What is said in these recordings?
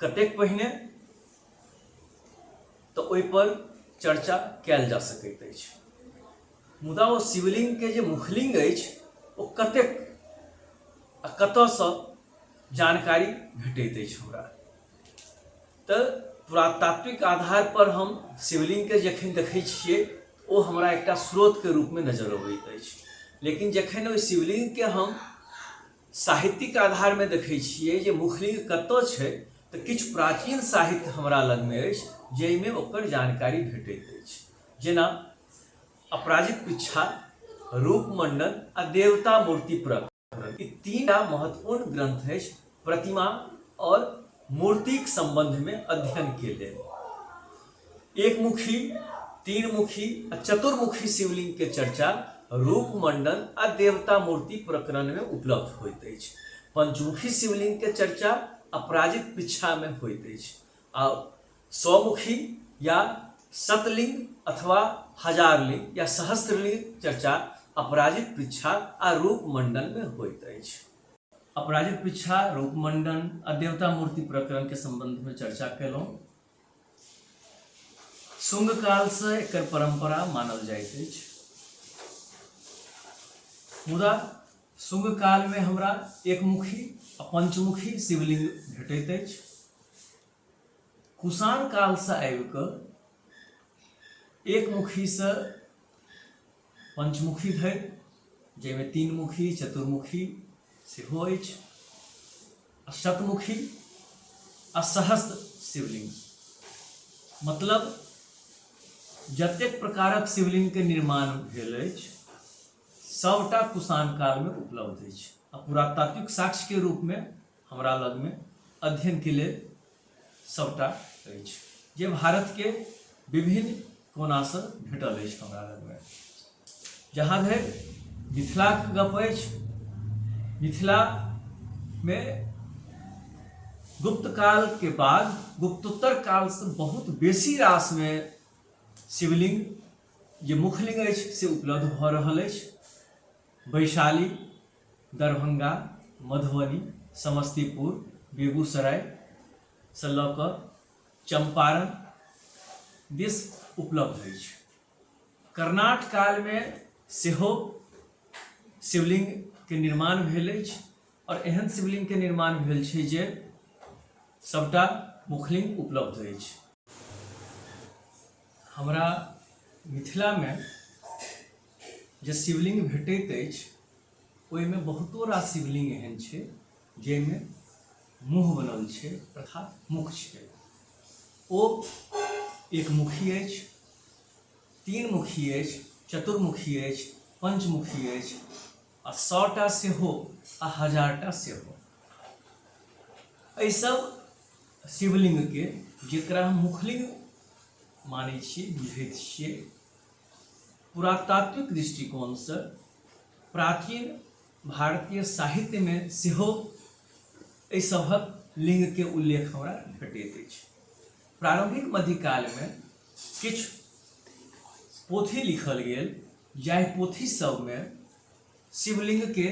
कतेक पहिने तऽ ओहिपर चर्चा कयल जा सकैत अछि मुदा ओ शिवलिङ्गके जे मुखलिङ्ग अछि ओ कतेक आ कतयसँ जानकारी भेटैत अछि हमरा तऽ पुरातात्विक आधारपर हम शिवलिङ्गके जखन देखै छियै ओ हमरा एकटा स्रोतके रूपमे नजर अबैत अछि लेकिन जखन ओहि शिवलिङ्गके हम साहित्यिक आधारमे देखै छियै जे मुखलिंग कतय छै तऽ किछु प्राचीन साहित्य हमरा लगमे अछि जाहिमे ओकर जानकारी भेटैत अछि जेना अपराजित पिच्छा रूपमंडन आ देवता मूर्ति प्रकरण ई तीनटा महत्वपूर्ण ग्रंथ अछि प्रतिमा आओर मूर्तिक संबंधमे अध्ययनके लेल एक मुखी तीन मुखी आ चतुर्मुखी शिवलिंग के चर्चा रूप मंडन आ देवता मूर्ति प्रकरण में उपलब्ध होइत अछि पंचमुखी शिवलिंग के चर्चा अपराजित पिछा में होइत अछि आ सौमुखी या शतलिंग अथवा हजारलिंग या सहस्त्रलिंग चर्चा अपराजित पिछा आ रूप मंडन में होइत अछि अपराजित पिछा रूप मंडन आ देवता मूर्ति प्रकरण के संबंध में चर्चा केलहुँ शुंग काल से एक परंपरा मानल जाए मुदा शुंग काल में हमरा एकमुखी आ पंचमुखी शिवलिंग भेटत अछि कुषाण काल से आबि एकमुखी से पंचमुखी धरि जाहिमे तीन मुखी चतुर्मुखी सेहो अछि आ शतमुखी आ सहस्त्र शिवलिंग मतलब जतेक प्रकारक शिवलिंगके निर्माण भेल अछि सभटा कुषाण कालमे उपलब्ध अछि आ पुरातात्विक साक्ष्यके रूपमे हमरा लग में अध्ययन के लिए सबटा अछि जे भारत के विभिन्न कोना से भेटल अछि हमरा लग में जहाँ धरि मिथिला के गप अछि मिथिला में गुप्त काल के बाद गुप्तोत्तर काल से बहुत बेसी रास में शिवलिंग जे मुखलिंग अछि से उपलब्ध भऽ रहल अछि वैशाली दरभंगा, मधुबनी, समस्तीपुर, बेगूसराय सँ लऽ कऽ चंपारण दिस उपलब्ध अछि। कर्णाट काल मे सेहो शिवलिंग के निर्माण भेल अछि आओर एहन शिवलिंग के निर्माण भेल छै जे सबटा मुखलिंग उपलब्ध अछि। हमरा मिथिला मे जे शिवलिंग भेटैत अछि। ओहिमे बहुतो रास शिवलिंग एहन छै जाहिमे मुँह बनल छै तथा मुख छै ओ एक मुखी अछि तीन मुखी अछि चतुर्मुखी अछि पंचमुखी अछि आ सौटा सेहो आ हजारटा सेहो एहि सब शिवलिंग के जेकरा हम मुखलिंग मानै छियै बुझैत छियै पुरातात्विक दृष्टिकोणसँ प्राचीन भारतीय साहित्यमे सेहो एहि सभक लिङ्गके उल्लेख हमरा भेटैत अछि प्रारम्भिक मध्यकालमे किछु पोथी लिखल गेल जाहि पोथी सभमे शिवलिङ्गके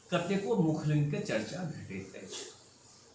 कतेको मुखलिङ्गके चर्चा भेटैत अछि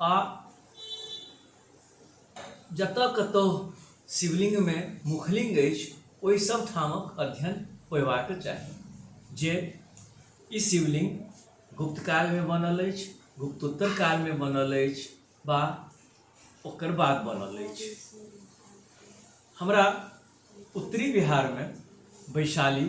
आ जतय कतहु शिवलिङ्गमे मुखलिङ्ग अछि ओहि सब ठामक अध्ययन होयबाक चाही जे ई शिवलिङ्ग गुप्त कालमे बनल अछि गुप्तोत्तर कालमे बनल अछि वा ओकर बाद बनल अछि हमरा उत्तरी बिहारमे वैशाली